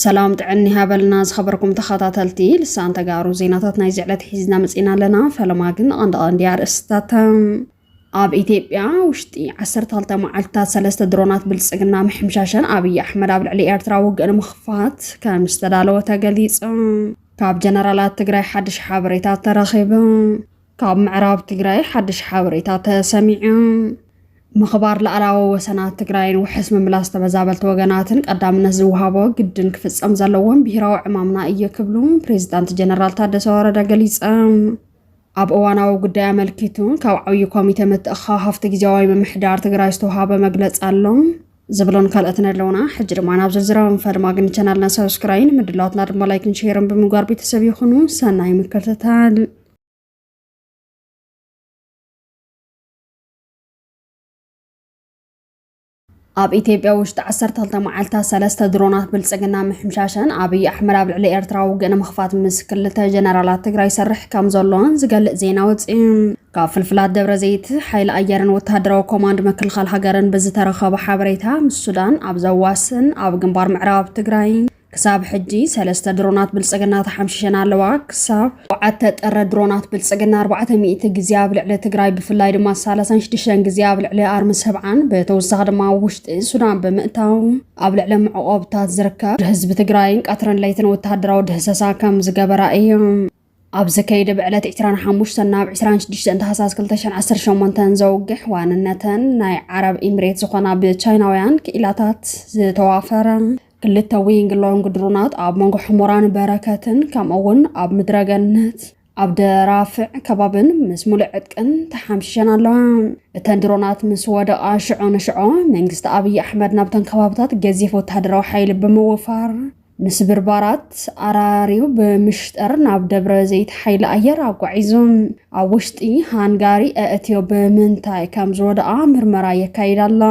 ሰላም ጥዕኒ ሃበልና ዝኸበርኩም ተኸታተልቲ ልሳን ተጋሩ ዜናታት ናይዚ ዕለት ሒዝና መፂና ኣለና። ፈለማ ግን ቐንዲ ቐንዲ ኣርእስትታት ኣብ ኢትዮጵያ ውሽጢ ዓሰርተ ክልተ መዓልትታት ሰለስተ ድሮናት ብልፅግና ምሕምሻሸን ኣብይ ኣሕመድ ኣብ ልዕሊ ኤርትራ ውግእ ንምኽፋት ከም ዝተዳለወ ተገሊጹ። ካብ ጀነራላት ትግራይ ሓድሽ ሓበሬታ ተረኺቡ። ካብ ምዕራብ ትግራይ ሓድሽ ሓበሬታ ተሰሚዑ። ምኽባር ላዕላዊ ወሰናት ትግራይን ውሕስ ምምላስ ተመዛበልቲ ወገናትን ቀዳምነት ዝወሃቦ ግድን ክፍጸም ዘለዎም ብሄራዊ ዕማምና እየ ክብሉ ፕሬዚዳንት ጀነራል ታደሰ ወረደ ገሊጸም። ኣብ እዋናዊ ጉዳይ ኣመልኪቱ ካብ ዓብዪ ኮሚቴ ምትእኽኻብ ሃፍቲ ግዜያዊ ምምሕዳር ትግራይ ዝተውሃበ መግለፂ ኣሎ ዝብሎን ካልኦትን ኣለውና። ሕጂ ድማ ናብ ዝርዝራዊ ንፈል ማግኒ ቻናልና ሰብስክራይ ንምድላዋትና ድማ ላይክን ሼርን ብምግባር ቤተሰብ ይኹኑ። ሰናይ ምክትታል ኣብ ኢትዮጵያ ውሽጢ ዓሰርተ ክልተ መዓልታት ሰለስተ ድሮናት ብልፅግና ምሕምሻሸን ኣብይ ኣሕመድ ኣብ ልዕሊ ኤርትራ ውግእ ንምኽፋት ምስ ክልተ ጀነራላት ትግራይ ይሰርሕ ከም ዘሎን ዝገልፅ ዜና ወፅዩ። ካብ ፍልፍላት ደብረ ዘይት ሓይሊ ኣየርን ወተሃደራዊ ኮማንድ ምክልኻል ሃገርን ብዝተረኸበ ሓበሬታ ምስ ሱዳን ኣብ ዘዋስን ኣብ ግንባር ምዕራብ ትግራይ ክሳብ ሕጂ ሰለስተ ድሮናት ብልጽግና ተሓምሺሸን ኣለዋ። ክሳብ ሸውዓተ ጥሪ ድሮናት ብልጽግና ኣርባዕተ ሚእቲ ግዜ ኣብ ልዕሊ ትግራይ ብፍላይ ድማ ሳላሳን ሽዱሽተን ግዜ ኣብ ልዕሊ ኣርሚ ሰብዓን ብተወሳኺ ድማ ኣብ ውሽጢ ሱዳን ብምእታው ኣብ ልዕሊ መዕቖብታት ዝርከብ ህዝቢ ትግራይን ቀትርን ለይትን ወተሃደራዊ ድህሰሳ ከም ዝገበራ እዮም። ኣብ ዘካየደ ብዕለት ዕስራን ሓሙሽተን ናብ ዕስራን ሽዱሽተን ታህሳስ ክልተ ሽሕን ዓሰርተ ሸሞንተን ዘውግሕ ዋንነተን ናይ ዓረብ ኢምሬት ዝኾና ብቻይናውያን ክኢላታት ዝተዋፈረ ክልተ ዊንግ ሎንግ ድሮናት ኣብ መንጎ ሕሞራን በረከትን ከምኡ እውን ኣብ ምድረገነት ኣብ ደራፍዕ ከባብን ምስ ሙሉእ ዕጥቅን ተሓምሽሸን ኣለዋ እተን ድሮናት ምስ ወደቓ ሽዖ ንሽዖ መንግስቲ ኣብዪ ኣሕመድ ናብተን ከባብታት ገዚፍ ወተሃደራዊ ሓይሊ ብምውፋር ንስብርባራት ኣራርዩ ብምሽጠር ናብ ደብረ ዘይት ሓይሊ ኣየር ኣጓዒዙ ኣብ ውሽጢ ሃንጋሪ ኣእትዮ ብምንታይ ከም ዝወደኣ ምርመራ የካይድ ኣሎ።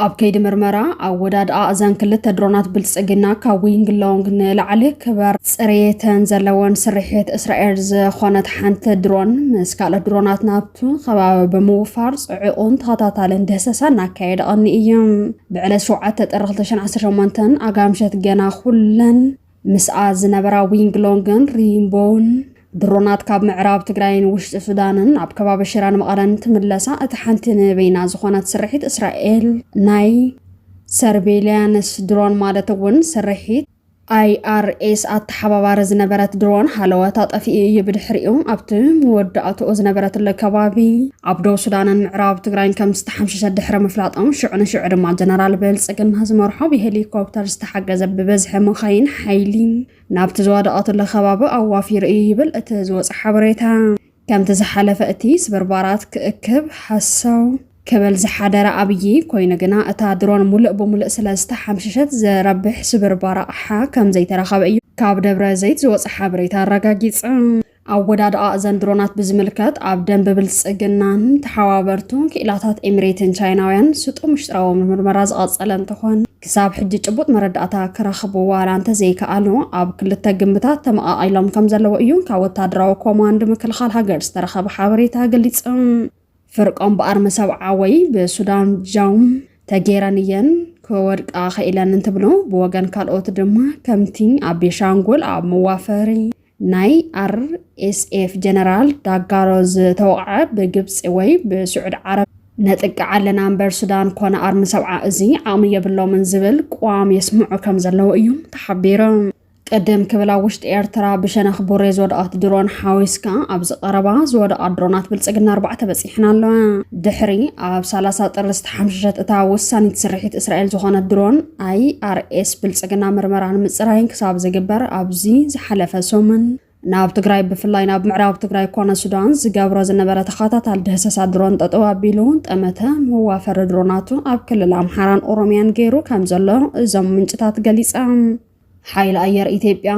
ኣብ ከይዲ ምርመራ ኣወዳድኣ እዘን ክልተ ድሮናት ብልፅግና ካብ ዊንግ ሎንግ ንላዕሊ ክበር ፅሬተን ዘለወን ስርሒት እስራኤል ዝኾነት ሓንቲ ድሮን ምስ ካልኦት ድሮናት ናብ እቲ ከባቢ ብምውፋር ጽዑቕን ተኸታታልን ደህሰሳ እናካየደ ቐኒ እዩ። ብዕለት ሸውዓተ ጥሪ ክልተ ሽሕን ዓሰርተ ሸሞንተን ኣጋ ምሸት ገና ኩለን ምስኣ ዝነበራ ዊንግሎንግን ሪምቦን ድሮናት ካብ ምዕራብ ትግራይን ውሽጢ ሱዳንን ኣብ ከባቢ ሽራን መቐለን ትምለሳ እቲ ሓንቲ ንበይና ዝኾነት ስርሒት እስራኤል ናይ ሰርቬልያንስ ድሮን ማለት እውን ስርሒት ኣይኣርኤስ ኣተሓባባሪ ዝነበረት ድሮን ሃለወት ኣጠፊኡ እዩ ብድሕሪኡ ኣብቲ መወዳእትኡ ዝነበረትለ ከባቢ ኣብ ደቡብ ሱዳንን ምዕራብ ትግራይን ከም ዝተሓምሸሸ ድሕሪ ምፍላጦም ሽዑ ንሽዑ ድማ ጀነራል ብልፅግና ዝመርሖ ብሄሊኮፕተር ዝተሓገዘ ብበዝሒ መኻይን ሓይሊ ናብቲ ዝወደቐትለ ከባቢ ኣዋፊሩ እዩ ይብል እቲ ዝወፀ ሓበሬታ ከምቲ ዝሓለፈ እቲ ስብርባራት ክእክብ ሃሰው ክብል ዝሓደረ ኣብዪ ኮይኑ ግና እታ ድሮን ሙሉእ ብሙሉእ ስለ ዝተሓምሸሸት ዘረብሕ ስብርባር ኣቕሓ ከም ዘይተረኸበ እዩ ካብ ደብረ ዘይት ዝወፀ ሓበሬታ ኣረጋጊፀ። ኣወዳድኣ እዘን ድሮናት ብዝምልከት ኣብ ደንቢ ብልፅግናን ተሓባበርቱን ክኢላታት ኤሚሬትን ቻይናውያን ስጡም ምሽጥራዊ ምርመራ ዝቐፀለ እንትኾን ክሳብ ሕጂ ጭቡጥ መረዳእታ ክረኽቡ ዋላ እንተዘይከኣሉ ኣብ ክልተ ግምታት ተመቓቒሎም ከም ዘለዎ እዩ ካብ ወታደራዊ ኮማንድ ምክልኻል ሃገር ዝተረኸበ ሓበሬታ ገሊጹ። ፍርቆም ብኣርሚ ሰብዓ ወይ ብሱዳን ጃውም ተጌረን እየን ክወድቃ ኸኢለን እንትብሉ ብወገን ካልኦት ድማ ከምቲ ኣብ ቤሻንጉል ኣብ መዋፈሪ ናይ RSF ጀነራል ዳጋሎ ዝተወቕዐ ብግብፂ ወይ ብስዑድ ዓረብ ነጥቅዕ ኣለና እምበር ሱዳን ኮነ ኣርሚ ሰብዓ እዚ ዓቕሚ የብሎምን ዝብል ቅዋም የስምዑ ከም ዘለዉ እዩ ተሓቢሩ። ቅድም ክብል ኣብ ውሽጢ ኤርትራ ብሸነኽ ቡሬ ዝወደቐት ድሮን ሓዊስካ ኣብዚ ቀረባ ዝወደቓ ድሮናት ብልፅግና ኣርባዕተ በፂሕን ኣለዋ። ድሕሪ ኣብ 30 ጥሪ ዝተሓምሸሸት እታ ወሳኒት ስርሒት እስራኤል ዝኾነት ድሮን ኣይኣርኤስ ብልፅግና ምርመራን ምፅራይን ክሳብ ዝግበር ኣብዚ ዝሓለፈ ሰሙን ናብ ትግራይ ብፍላይ ናብ ምዕራብ ትግራይ ኮነ ሱዳን ዝገብሮ ዝነበረ ተኸታታሊ ድህሰሳ ድሮን ጠጠው ኣቢሉ ጠመተ መዋፈሪ ድሮናቱ ኣብ ክልል ኣምሓራን ኦሮሚያን ገይሩ ከም ዘሎ እዞም ምንጭታት ገሊፆም። ሓይሊ ኣየር ኢትዮጵያ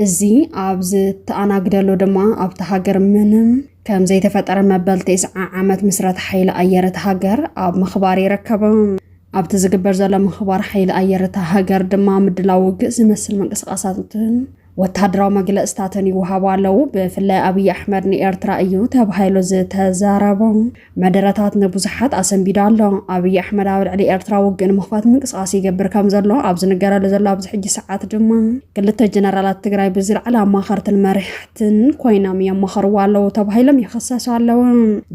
እዚ ኣብ ዝተኣናግደሉ ድማ ኣብቲ ሃገር ምንም ከም ዘይተፈጠረ መበል ቴስዓ ዓመት ምስረት ሓይሊ ኣየር እቲ ሃገር ኣብ ምኽባር ይረከቡ። ኣብቲ ዝግበር ዘሎ ምኽባር ሓይሊ ኣየር እታ ሃገር ድማ ምድላው ውግእ ዝመስል ምንቅስቓሳትን ወተሃደራዊ መግለፅታትን ይወሃቡ ኣለዉ። ብፍላይ ኣብዪ ኣሕመድ ንኤርትራ እዩ ተባሂሉ ዝተዛረቦ መደረታት ንብዙሓት ኣሰንቢዳ ኣሎ። ኣብይ ኣሕመድ ኣብ ልዕሊ ኤርትራ ውግእ ንምኽፋት ምንቅስቓስ ይገብር ከም ዘሎ ኣብ ዝንገረሉ ዘሎ ኣብዚ ሕጂ ሰዓት ድማ ክልተ ጀነራላት ትግራይ ብዝለዓለ ኣማኸርትን መሪሕትን ኮይኖም የማኸርዎ ኣለዉ ተባሂሎም ይኽሰሱ ኣለዉ።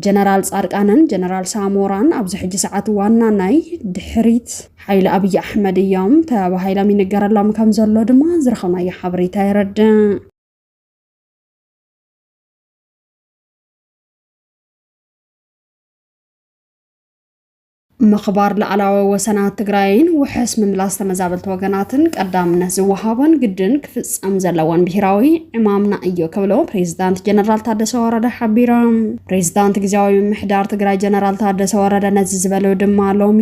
ጀነራል ጻድቃንን ጀነራል ሳሞራን ኣብዚ ሕጂ ሰዓት ዋና ናይ ድሕሪት ሓይሊ ኣብይ ኣሕመድ እዮም ተባሂሎም ይንገረሎም ከም ዘሎ ድማ ዝረኸብናዮ ሓበሬታ የረድእ። ምኽባር ላዕላወ ወሰናት ትግራይን ውሕስ ምምላስ ተመዛበልቲ ወገናትን ቀዳምነት ዝወሃቦን ግድን ክፍፀም ዘለዎን ብሄራዊ ዕማምና እዩ ክብሎ ፕሬዚዳንት ጀነራል ታደሰ ወረደ ሓቢሮም። ፕሬዚዳንት ግዜያዊ ምሕዳር ትግራይ ጀነራል ታደሰ ወረደ ነዚ ዝበሉ ድማ ሎሚ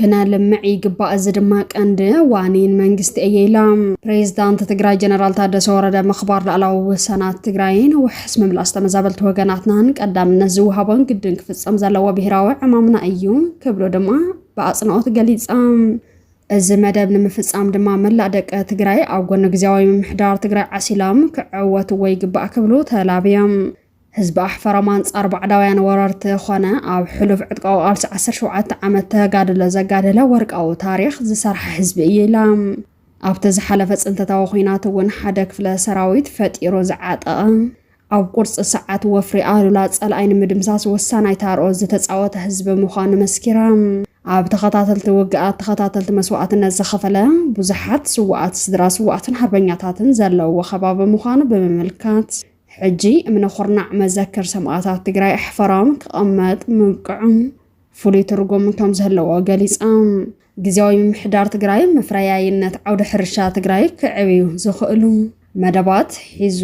ክነልምዕ ይግባእ እዚ ድማ ቀንዲ ዋኒን መንግስቲ እየ ኢላ ፕሬዚዳንት ትግራይ ጀነራል ታደሰ ወረደ ምኽባር ላዕላዊ ወሰናት ትግራይን ውሕስ ምምላስ ተመዛበልቲ ወገናትናን ቀዳምነት ዝወሃቦን ግድን ክፍፀም ዘለዎ ብሄራዊ ዕማምና እዩ ክብሉ ድማ ብኣፅንኦት ገሊፆም እዚ መደብ ንምፍፃም ድማ መላእ ደቂ ትግራይ ኣብ ጎኒ ግዜያዊ ምምሕዳር ትግራይ ዓሲሎም ክዕወትዎ ይግባእ ክብሉ ተላብዮም ህዝቢ ኣሕፈር ኣብ ኣንጻር ባዕዳውያን ወረርቲ ኾነ ኣብ ሕሉፍ ዕጥቃዊ ቃልሲ ዓሰርተ ሸውዓተ ዓመት ተጋድሎ ዘጋደለ ወርቃዊ ታሪኽ ዝሰርሓ ህዝቢ እዩ ኢላ። ኣብቲ ዝሓለፈ ጽንተታዊ ኹናት እውን ሓደ ክፍለ ሰራዊት ፈጢሩ ዝዓጠቐ፣ ኣብ ቁርጺ ሰዓት ወፍሪ ኣሉላ ጸላኣይ ንምድምሳስ ወሳናይ ታርኦ ዝተጻወተ ህዝቢ ምዃኑ መስኪራ። ኣብ ተኸታተልቲ ውግኣት ተኸታተልቲ መስዋእትነት ዝኸፈለ ብዙሓት ስዋኣት ስድራ ስዋኣትን ሃርበኛታትን ዘለውዎ ከባቢ ምዃኑ ብምምልካት ሕጂ እምነ ኩርናዕ መዘክር ሰማእታት ትግራይ ኣሕፈሮም ክቐመጥ ምብቅዑ ፍሉይ ትርጉም ከምዘለዎ ገሊፆም። ግዜያዊ ምምሕዳር ትግራይ መፍረያይነት ዓውደ ሕርሻ ትግራይ ክዕብዩ ዝኽእሉ መደባት ሒዙ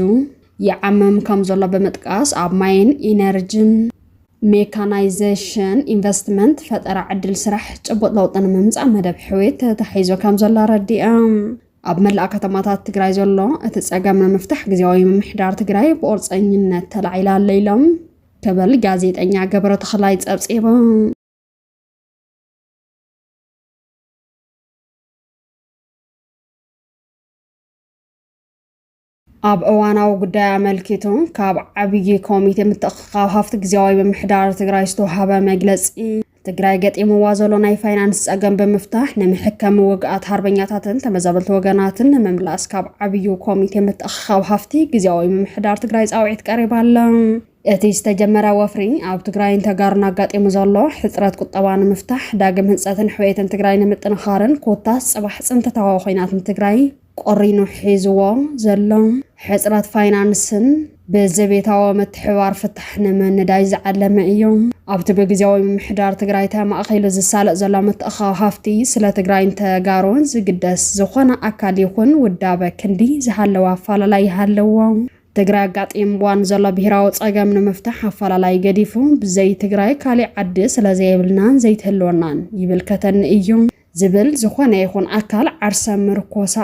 ይዓምም ከምዘሎ ብምጥቃስ ኣብ ማይን ኢነርጅን፣ ሜካናይዜሽን፣ ኢንቨስትመንት፣ ፈጠራ ዕድል ስራሕ ጭቡጥ ለውጢ ንምምፃእ መደብ ሕውየት ተታሒዙ ከምዘሎ ኣረዲኦም። ኣብ መላእ ከተማታት ትግራይ ዘሎ እቲ ፀገም ንምፍታሕ ግዜያዊ ምምሕዳር ትግራይ ብቑርፀኝነት ተላዒላ ኣሎ ኢሎም ክብል ጋዜጠኛ ገብረ ተኽላይ ፀብፂቡ። ኣብ እዋናዊ ጉዳይ ኣመልኪቱ ካብ ዓብዪ ኮሚቴ ምትእኽኻብ ሃፍቲ ግዜያዊ ምምሕዳር ትግራይ ዝተውሃበ መግለፂ ትግራይ ገጢምዋ ዘሎ ናይ ፋይናንስ ፀገም ብምፍታሕ ንምሕከም ውግኣት ሃርበኛታትን ተመዛበልቲ ወገናትን ንምምላስ ካብ ዓብዩ ኮሚቴ ምትእኽኻብ ሃፍቲ ግዜያዊ ምምሕዳር ትግራይ ፃውዒት ቀሪባ ኣለ። እቲ ዝተጀመረ ወፍሪ ኣብ ትግራይን ተጋሩን ኣጋጢሙ ዘሎ ሕፅረት ቁጠባ ንምፍታሕ ዳግም ህንፀትን ሕውየትን ትግራይ ንምጥንኻርን ኮታስ ፅባሕ ፅንተታዊ ኮይናት ንትግራይ ቆሪኑ ሒዝዎ ዘሎ ሕጽረት ፋይናንስን ብዘቤታዊ ምትሕብባር ፍታሕ ንምንዳይ ዝዓለመ እዩ። ኣብቲ ብግዜያዊ ምምሕዳር ትግራይ ተማእኺሉ ዝሳለጥ ዘሎ ምትእኻው ሃፍቲ ስለ ትግራይን ተጋሩን ዝግደስ ዝኾነ ኣካል ይኹን ውዳበ ክንዲ ዝሃለወ ኣፈላላይ ይሃልዎ ትግራይ ኣጋጢምዋ ንዘሎ ብሄራዊ ጸገም ንምፍታሕ ኣፈላላይ ገዲፉ ብዘይ ትግራይ ካሊእ ዓዲ ስለዘየብልናን ዘይትህልወናን ይብልከተኒ እዩ ዝብል ዝኾነ ይኹን ኣካል ዓርሰ ምርኮሳ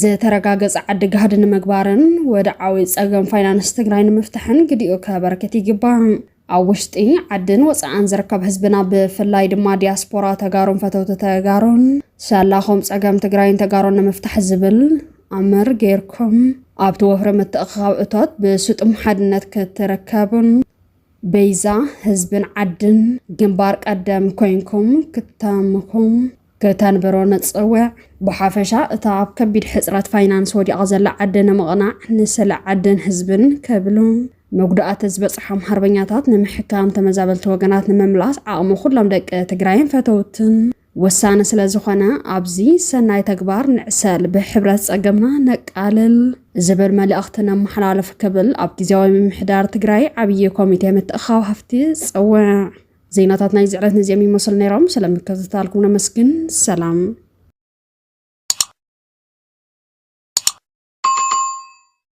ዝተረጋገፀ ዓዲ ጋህዲ ንምግባርን ወድዓዊ ፀገም ፋይናንስ ትግራይ ንምፍታሕን ግዲኡ ከበርክት ይግባእ። ኣብ ውሽጢ ዓድን ወፃእን ዝርከብ ህዝብና ብፍላይ ድማ ዲያስፖራ ተጋሩን ፈተውቲ ተጋሩን ሰላኹም ፀገም ትግራይን ተጋሩን ንምፍታሕ ዝብል ኣምር ገይርኩም ኣብቲ ወፍሪ ምትእኽኻብ እቶት ብስጡም ሓድነት ክትርከቡን በይዛ ህዝብን ዓድን ግንባር ቀደም ኮይንኩም ክተምኹም ከተንብሮ ንጽውዕ። ብሓፈሻ እታ ኣብ ከቢድ ሕጽረት ፋይናንስ ወዲቓ ዘላ ዓዲ ንምቕናዕ ንስለ ዓድን ህዝብን ክብሉ መጉዳእቲ ዝበጽሖም ሃርበኛታት ንምሕካም ተመዛበልቲ ወገናት ንምምላስ ዓቕሚ ኩሎም ደቂ ትግራይን ፈተውትን ወሳኒ ስለ ዝኾነ ኣብዚ ሰናይ ተግባር ንዕሰል፣ ብሕብረት ጸገምና ነቃልል ዝብል መልእኽቲ ነመሓላልፍ ክብል ኣብ ግዜያዊ ምምሕዳር ትግራይ ዓብዪ ኮሚቴ ምትእኻብ ሃፍቲ ጸውዕ። ዜናታት ናይ ዝዕለት ነዚኦም ይመስሉ ነይሮም። ስለምክትታልኩም ነመስግን። ሰላም